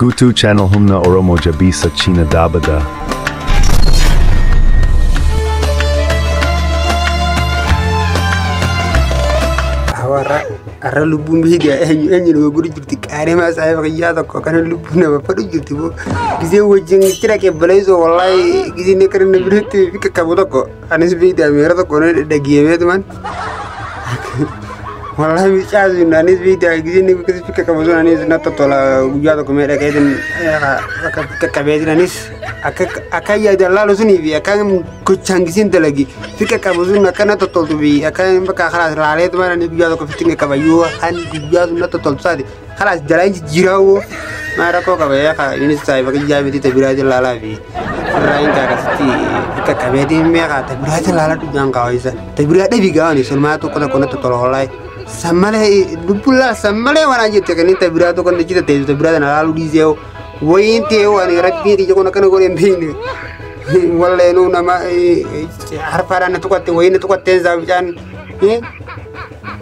Gutu channel humna oromo jabisa china dabada. Hawaara har'a lubbuun biyyi gaa eenyu eenyu nama godhu jirti qaarimaa saayiba kiyyaa tokko kana lubbuun nama fadhu jirti boo gisee wajjin itti dhaqee baleessoo wallaahi gisee inni akka dandabireetti fi qaqqabu tokko. Anis biidii ameera tokko na dhagiyee beektuman. Wallahi miicaa sun anis biidii agisii ni guddisi fikka qabu sun anis na tottola guyyaa tokko mee dhagee sun akka fikka qabee sun anis akka akka yaada laalu sunii fi akka gochaan gisiin dalagi fikka qabu sun akka na tottoltu fi akka bakka karaa laalee tumaan anis guyyaa tokko fikki qabayyuu kan guyyaa sun na tottoltu saati. Kalaas jalaa hin jijjiiraawoo. Maa rakkoo qaba yaa kaa innis saayiba qiyyaa miti ta biraa jallaalaa fi irraa hin kaakasitti itti qabee deemee kaa ta biraa jallaalaa dhugaan kaawayisa. Ta biraa dhabi gaawani sulmaa tokko tokko natti tola hollaayi. Sammalee dubbullaa sammalee waan jette kan inni ta biraa tokko natti jita teessu ta biraa sana laaluu dhiisee wayiin ta'ee waan rabbiin ija kun akkana godhee hin beekne. Walleenuu nama harfaadhaan na tuqatte wayiin na tuqattee isaa bicaan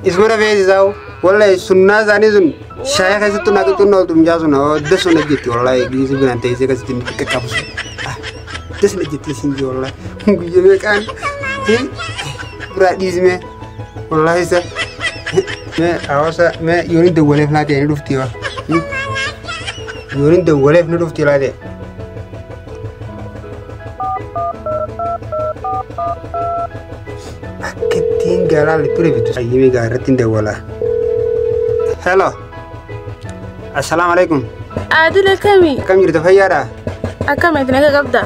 isuma rafee isaa. Wallahi sunnaa isaanii sun shaayee keessattuu naa qixxunna ooltu mucaa sun odda sun hojjetti wallahi giisii binaan teessee akkasitti inni xiqqa qabu sun. Odda sun hojjetti isin jee wallahi guyya meeqaan biraa dhiismee wallahi isa mee hawaasa mee yoon hin dawwaleef naa ta'e ni dhufti waa. Yoon hin dawwaleef ni dhufti laa ta'e. Akka ittiin gaalaan liphira bitu. Ayyamii gaa irratti hin dawwala. Hello. Assalaamu alaikum. Adil akkami? Akkam jirtu fayyaadha? Akkamitti naga qabda?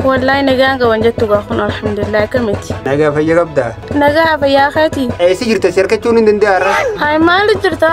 Wallaahi nagaan qaban jettu gaa kun alhamdulillah akkamitti? Nagaa fayya qabda? Nagaa fayyaa keeti? Eessa jirta si argachuun hin danda'arra? Hayi maali jirta?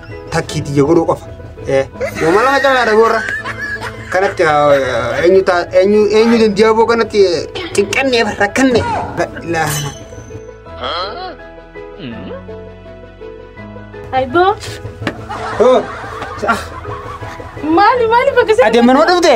Takkii tiyya godhuu qofa. Uumama lama caalaadha goorra. Kanatti eenyu taa eenyu eenyu dandiyaa boo kanatti xiqqanne rakkanne. Laana. Aiboo Hoo. Maali maali bakka sana. Adeemmanoo dhufte.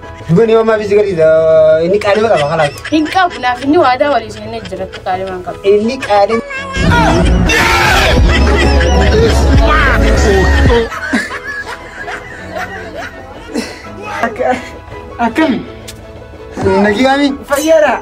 Duga ni mama bisi gadi da ini kali maka bakal lagi. Hin qabu naaf inni waadaa walii sun inni jiratu kaalimaan qabu. Ini kali. Akami. Nagi kami. Fayyara.